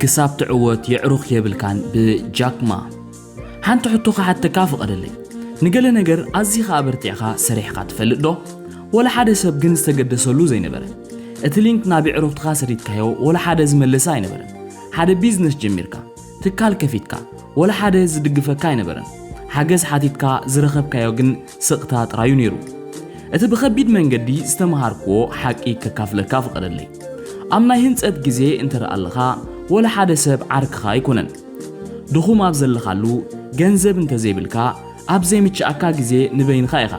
ክሳብ ትዕወት የዕሩኽ የብልካን ብጃክማ። ሓንቲ ሕቶ ክሓተካ ፍቐደለይ። ንገለ ነገር ኣዚኻ ኣበርቲዕኻ ሰሪሕኻ ትፈልጥ ዶ? ወላ ሓደ ሰብ ግን ዝተገደሰሉ ዘይነበረ። እቲ ሊንክ ናብ የዕሩኽትኻ ሰዲድካዮ ወላ ሓደ ዝመለሰ ኣይነበረን። ሓደ ቢዝነስ ጀሚርካ ትካል ከፊትካ ወላ ሓደ ዝድግፈካ ኣይነበረን። ሓገዝ ሓቲትካ ዝረኸብካዮ ግን ስቕታ ጥራዩ ነይሩ። እቲ ብኸቢድ መንገዲ ዝተመሃርክዎ ሓቂ ከካፍለካ ፍቐደለይ። ኣብ ናይ ህንጸት ግዜ እንተደኣ ኣለኻ ወላ ሓደ ሰብ ዓርክኻ ኣይኮነን። ድኹም ኣብ ዘለኻሉ፣ ገንዘብ እንተዘይብልካ፣ ኣብ ዘይምችኣካ ግዜ ንበይንኻ ኢኻ።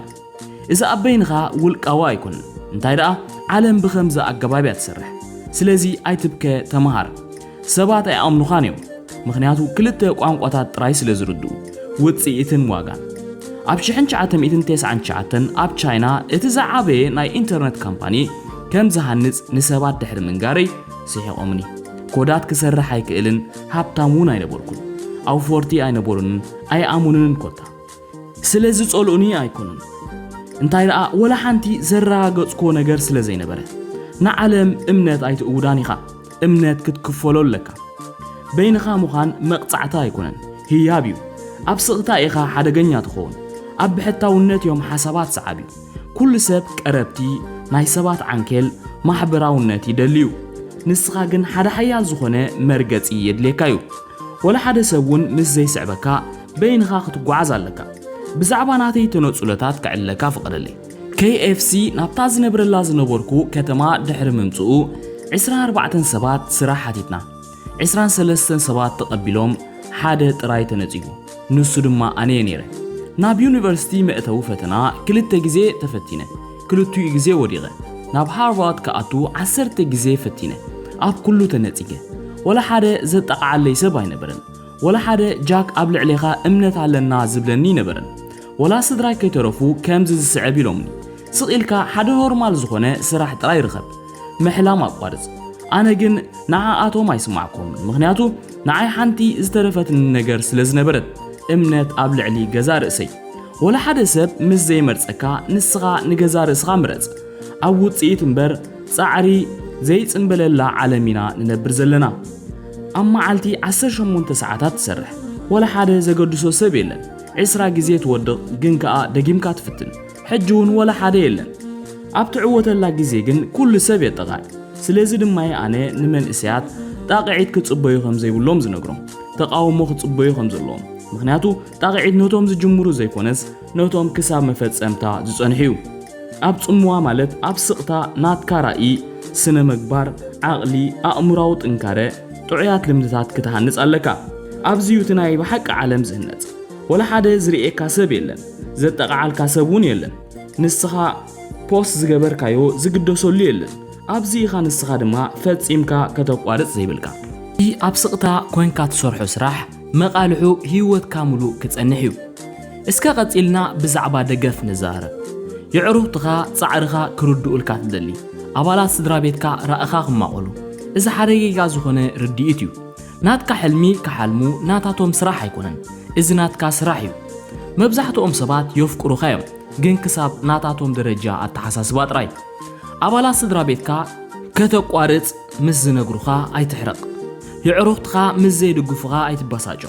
እዚ ኣብ በይንኻ ውልቃዊ ኣይኮነን እንታይ ደኣ ዓለም ብከምዚ ኣገባብ እያ ትሰርሕ ስለዚ ኣይትብከ ተመሃር ሰባት ኣይኣምኑኻን እዮም ምክንያቱ ክልተ ቋንቋታት ጥራይ ስለ ዝርድኡ ውጽኢትን ዋጋን ኣብ 1999 ኣብ ቻይና እቲ ዝዓበየ ናይ ኢንተርነት ካምፓኒ ከም ዝሃንጽ ንሰባት ድሕሪ ምንጋረይ ስሒቖምኒ ኮዳት ክሰርሕ ኣይክእልን ሃብታም እውን ኣይነበርኩን ኣውፈርቲ ኣይነበሩንን ኣይኣሙንንን ኮታ ስለ ዝጸልኡኒ ኣይኮኑን፣ እንታይ ደኣ ወላ ሓንቲ ዘረጋገጽክዎ ነገር ስለ ዘይነበረ። ንዓለም እምነት ኣይትእውዳን ኢኻ፣ እምነት ክትክፈሎ ኣለካ። በይንኻ ምዃን መቕጻዕቲ ኣይኮነን፣ ህያብ እዩ። ኣብ ስቕታ ኢኻ ሓደገኛ ትኸውን፣ ኣብ ብሕታውነት እዮም ሓሳባት ሰዓቢ። ኩሉ ሰብ ቀረብቲ፣ ናይ ሰባት ዓንኬል፣ ማሕበራውነት ይደሊ እዩ። ንስኻ ግን ሓደ ሓያል ዝኾነ መርገጺ የድልየካ እዩ። ወላ ሓደ ሰብ እውን ምስ ዘይስዕበካ፣ በይንኻ ክትጓዓዝ ኣለካ። ብዛዕባ ናተይ ተነጽሎታት ክዕለካ ፍቐደለይ። KFC ናብታ ዝነብረላ ዝነበርኩ ከተማ ድሕሪ ምምጽኡ፣ ዕስራን ኣርባዕተን ሰባት ስራሕ ሓቲትና። ዕስራን ሰለስተን ሰባት ተቐቢሎም፣ ሓደ ጥራይ ተነጺጉ። ንሱ ድማ ኣነ'የ ነይረ። ናብ ዩኒቨርሲቲ መእተዊ ፈተና ክልተ ግዜ ተፈቲነ። ክልቲኡ ግዜ ወዲቐ። ናብ ሃርቫርድ ክኣቱ ዓሰርተ ግዜ ፈቲነ። ኣብ ኩሉ ተነጺገ። ዋላ ሓደ ዘጣቕዓለይ ሰብ ኣይነበረን። ወላ ሓደ ጃክ ኣብ ልዕሌኻ እምነት ኣለና ዝብለኒ ኣይነበረን። ወላ ስድራይ ከይተረፉ ከምዚ ዝስዕብ ኢሎምኒ፣ ስቕ ኢልካ ሓደ ኖርማል ዝኾነ ስራሕ ጥራይ ርኸብ። ምሕላም ኣቋርጽ። ኣነ ግን ንዓኣቶም ኣይስማዕኩምን፣ ምኽንያቱ ንዓይ ሓንቲ ዝተረፈትኒ ነገር ስለ ዝነበረት፣ እምነት ኣብ ልዕሊ ገዛእ ርእሰይ። ወላ ሓደ ሰብ ምስ ዘይመርጸካ ንስኻ ንገዛእ ርእስኻ ምረጽ። ኣብ ውጽኢት እምበር ጻዕሪ ዘይጽምበለላ ዓለም ኢና ንነብር ዘለና። ኣብ መዓልቲ ዓሰርተ ሸሞንተ ሰዓታት ትሰርሕ ወላ ሓደ ዘገድሶ ሰብ የለን ዕስራ ግዜ ትወድቕ ግን ከኣ ደጊምካ ትፍትን ሕጂ እውን ወላ ሓደ የለን ኣብ ትዕወተላ ግዜ ግን ኩሉ ሰብ የጠቓዕ ስለዚ ድማ እየ ኣነ ንመንእሰያት ጣቕዒት ክጽበዩ ከም ዘይብሎም ዝነግሮም ተቓውሞ ክጽበዩ ከም ዘለዎም ምክንያቱ ጣቕዒት ነቶም ዝጅምሩ ዘይኮነስ ነቶም ክሳብ መፈጸምታ ዝጸንሑ እዩ። ኣብ ጽምዋ ማለት ኣብ ስቕታ ናትካ ራኢ፣ ስነ መግባር፣ ዓቕሊ፣ ኣእምራዊ ጥንካረ፣ ጥዑያት ልምድታት ክትሃንጽ ኣለካ። ኣብዚ እዩ እቲ ናይ ብሓቂ ዓለም ዝህነጽ። ወላ ሓደ ዝርእየካ ሰብ የለን፣ ዘጠቓዓልካ ሰብ እውን የለን። ንስኻ ፖስት ዝገበርካዮ ዝግደሰሉ የለን። ኣብዚ ኢኻ ንስኻ ድማ ፈጺምካ ከተቋርጽ ዘይብልካ። እቲ ኣብ ስቕታ ኮንካ ትሰርሖ ስራሕ መቓልሑ ህይወትካ ምሉእ ክጸንሕ እዩ። እስከ ቀጺልና ብዛዕባ ደገፍ ንዛረብ። የዕሩኽትኻ ጻዕርኻ ክርድኡልካ ትደሊ፣ ኣባላት ስድራቤትካ ራእኻ ክማቐሉ። እዚ ሓደገይጋ ዝኾነ ርድኢት እዩ። ናትካ ሕልሚ ክሓልሙ ናታቶም ስራሕ ኣይኮነን፣ እዚ ናትካ ስራሕ እዩ። መብዛሕትኦም ሰባት የፍቅሩኻ እዮም፣ ግን ክሳብ ናታቶም ደረጃ ኣተሓሳስባ ጥራይ። ኣባላት ስድራቤትካ ከተቋርጽ ምስ ዝነግሩኻ ኣይትሕረቕ። የዕሩኽትኻ ምስ ዘይድግፉኻ ኣይትበሳጮ።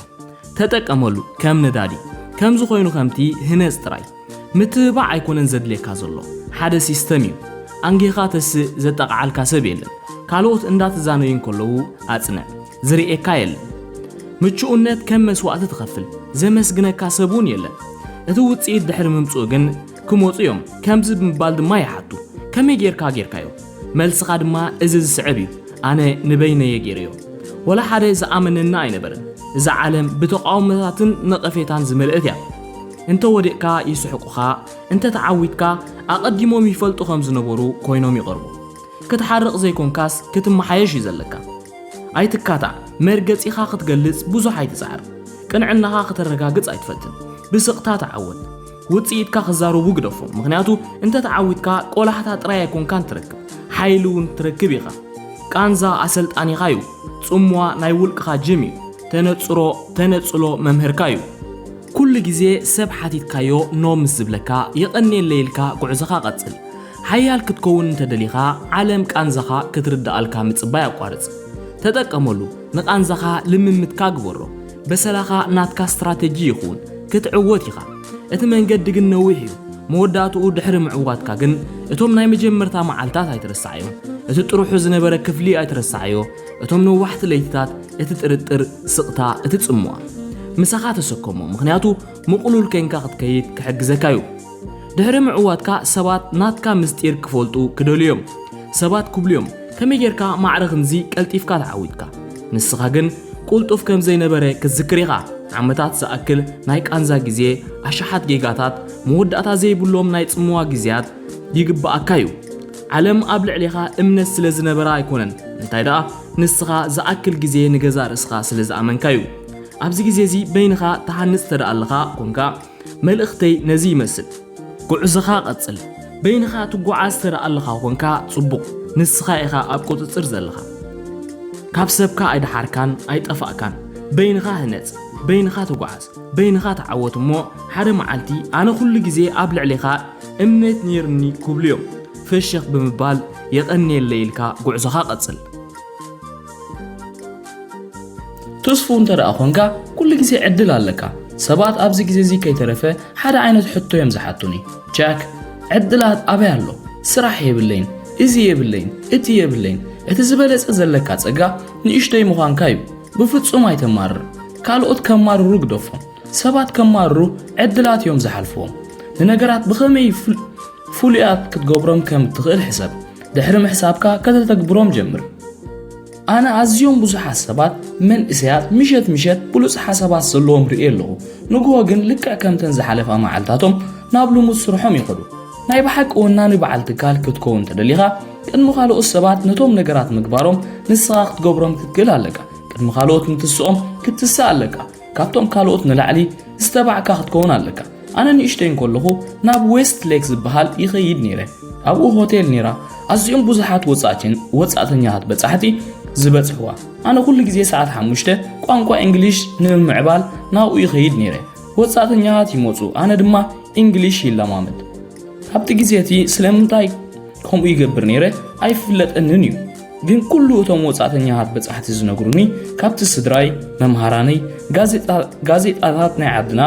ተጠቀመሉ ከም ነዳዲ። ከምዚ ኮይኑ ከምቲ ህነጽ ጥራይ። ምትብባዕ ኣይኮነን ዘድልየካ ዘሎ። ሓደ ሲስተም እዩ። ኣንጊህኻ ተስእ ዘጣቕዓልካ ሰብ የለን። ካልኦት እንዳተዛነዩ እንከለዉ ኣጽንዕ። ዝርእየካ የለን። ምቹእነት ከም መስዋእቲ ትኸፍል። ዘመስግነካ ሰብ'ውን የለን። እቲ ውጽኢት ድሕሪ ምምጽኡ ግን ክመጹ እዮም ከምዚ ብምባል ድማ ይሓቱ ከመይ ጌርካ ጌርካዮ መልስኻ ድማ እዚ ዝስዕብ እዩ ኣነ ንበይነየ ጌረዮ ወላ ሓደ ዝኣመነኒ ኣይነበረን እዛ ዓለም ብተቃውሞታትን ነቐፌታን ዝመልእት እያ እንተ ወዲቕካ ይስሕቁኻ እንተ ተዓዊትካ ኣቐዲሞም ይፈልጡ ከም ዝነበሩ ኮይኖም ይቐርቡ ክትሓርቕ ዘይኮንካስ ክትመሓየሽ እዩ ዘለካ ኣይትካታዕ መርገጺኻ ክትገልጽ ብዙሕ ኣይትጽዓር ቅንዕናኻ ክተረጋግጽ ኣይትፈትን ብስቕታ ተዓወት ውጽኢትካ ክዛረቡ ግደፎም ምኽንያቱ እንተ ተዓዊትካ ቆላሕታ ጥራይ ኣይኮንካን ትረክብ ሓይሊ እውን ትረክብ ኢኻ ቃንዛ ኣሰልጣኒኻ እዩ ጽምዋ ናይ ውልቅኻ ጅም እዩ ተነጽሮ ተነጽሎ መምህርካ እዩ ኩሉ ግዜ ሰብ ሓቲትካዮ ኖ ምስ ዝብለካ የቐኔለይ ኢልካ ጉዕዞኻ ቀጽል ሓያል ክትከውን እንተ ደሊኻ ዓለም ቃንዛኻ ክትርድኣልካ ምጽባይ ኣቋርጽ ተጠቀመሉ ንቃንዛኻ ልምምትካ ግበሮ በሰላኻ ናትካ ስትራተጂ ይኹን ክትዕወት ኢኻ እቲ መንገዲ ግን ነዊሕ እዩ መወዳእትኡ ድሕሪ ምዕዋትካ ግን እቶም ናይ መጀመርታ መዓልታት ኣይትረሳዓዮ እቲ ጥርሑ ዝነበረ ክፍሊ ኣይትረሳዓዮ እቶም ነዋሕቲ ለይትታት እቲ ጥርጥር ስቕታ እቲ ጽምዋ ምሳኻ ተሰከሞ ምኽንያቱ ምቕሉል ኴንካ ክትከይድ ክሕግዘካ እዩ ድሕሪ ምዕዋትካ ሰባት ናትካ ምስጢር ክፈልጡ ክደልዩ እዮም። ሰባት ክብሉ እዮም ከመይ ጌርካ ማዕረ ክንዚ ቀልጢፍካ ተዓዊትካ? ንስኻ ግን ቁልጡፍ ከም ዘይነበረ ክትዝክር ኢኻ። ዓመታት ዝኣክል ናይ ቃንዛ ግዜ፣ ኣሽሓት ጌጋታት፣ መወዳእታ ዘይብሎም ናይ ጽምዋ ግዜያት ይግብኣካ እዩ። ዓለም ኣብ ልዕሌኻ እምነት ስለ ዝነበራ ኣይኮነን፣ እንታይ ደኣ ንስኻ ዝኣክል ግዜ ንገዛእ ርእስኻ ስለ ዝኣመንካ እዩ። ኣብዚ ግዜ እዚ በይንኻ ትሃንጽ ተደኣ ኣለኻ ኮንካ፣ መልእኽተይ ነዚ ይመስል ጉዕዞኻ ቀጽል በይንኻ ትጉዓዝ ተደኣለኻ ኮንካ ጽቡቕ ንስኻ ኢኻ ኣብ ቁጽጽር ዘለኻ ካብ ሰብካ ኣይደሓርካን ኣይጠፋእካን በይንኻ ህነጽ በይንኻ ተጉዓዝ በይንኻ ተዓወት እሞ ሓደ መዓልቲ ኣነ ኩሉ ግዜ ኣብ ልዕሌኻ እምነት ኔርኒ ክብሉ እዮም ፈሸኽ ብምባል የቐንየለይ ኢልካ ጉዕዞኻ ቀጽል። ትስፉው እንተ ደኣ ዀንካ ኵሉ ግዜ ዕድል ኣለካ። ሰባት ኣብዚ ግዜ እዚ ከይተረፈ ሓደ ዓይነት ሕቶ እዮም ዝሓቱኒ፣ ጃክ ዕድላት ኣበይ ኣሎ? ስራሕ የብለይን፣ እዚ የብለይን፣ እቲ የብለይን። እቲ ዝበለጸ ዘለካ ጸጋ ንእሽቶይ ምዃንካ እዩ። ብፍጹም ኣይተማርር። ካልኦት ከማርሩ ግደፎም። ሰባት ከማርሩ ዕድላት እዮም ዝሓልፍዎም። ንነገራት ብኸመይ ፍሉያት ክትገብሮም ከም እትኽእል ሕሰብ። ድሕሪ ምሕሳብካ ከተተግብሮም ጀምር። ኣነ ኣዝዮም ብዙሓት ሰባት መንእሰያት ምሸት ምሸት ብሉጽ ሓሳባት ዘለዎም ርእየ ኣለኹ ንግሆ ግን ልክዕ ከምተን ዝሓለፋ መዓልታቶም ናብ ልሙድ ስርሖም ይኸዱ ናይ ብሓቂ ወናኒ በዓል ትካል ክትከውን ተደሊኻ ቅድሚ ካልኦት ሰባት ነቶም ነገራት ምግባሮም ንስኻ ክትገብሮም ክትክእል ኣለካ ቅድሚ ካልኦት ምትስኦም ክትስእ ኣለካ ካብቶም ካልኦት ንላዕሊ ዝተባዕካ ክትከውን ኣለካ ኣነ ንእሽተይ እንከለኹ ናብ ዌስት ሌክ ዝበሃል ይኸይድ ነይረ ኣብኡ ሆቴል ነይራ ኣዝኦም ብዙሓት ወጻእትን ወጻእተኛታት በጻሕቲ ዝበጽሕዋ ኣነ ኩሉ ግዜ ሰዓት ሓሙሽተ ቋንቋ እንግሊሽ ንምምዕባል ናብኡ ይኸይድ ነይረ ወጻእተኛታት ይመፁ ኣነ ድማ እንግሊሽ ይለማመድ ኣብቲ ግዜ እቲ ስለምንታይ ከምኡ ይገብር ነይረ ኣይፍለጠንን እዩ ግን ኩሉ እቶም ወጻእተኛታት በጻሕቲ ዝነግሩኒ ካብቲ ስድራይ መምሃራነይ ጋዜጣታት ናይ ዓድና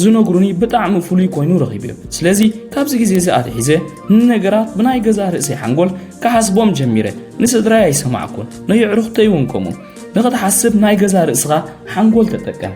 ዝነግሩኒ ብጣዕሚ ፍሉይ ኮይኑ ረኺብዮ ስለዚ ካብዚ ግዜ እዚ ኣትሒዘ ንነገራት ብናይ ገዛ ርእሰይ ሓንጎል ክሓስቦም ጀሚረ ንስድራይ ኣይሰማዕኩን ንየዕሩኽተይ እውን ከምኡ ንኽትሓስብ ናይ ገዛ ርእስኻ ሓንጎል ተጠቀም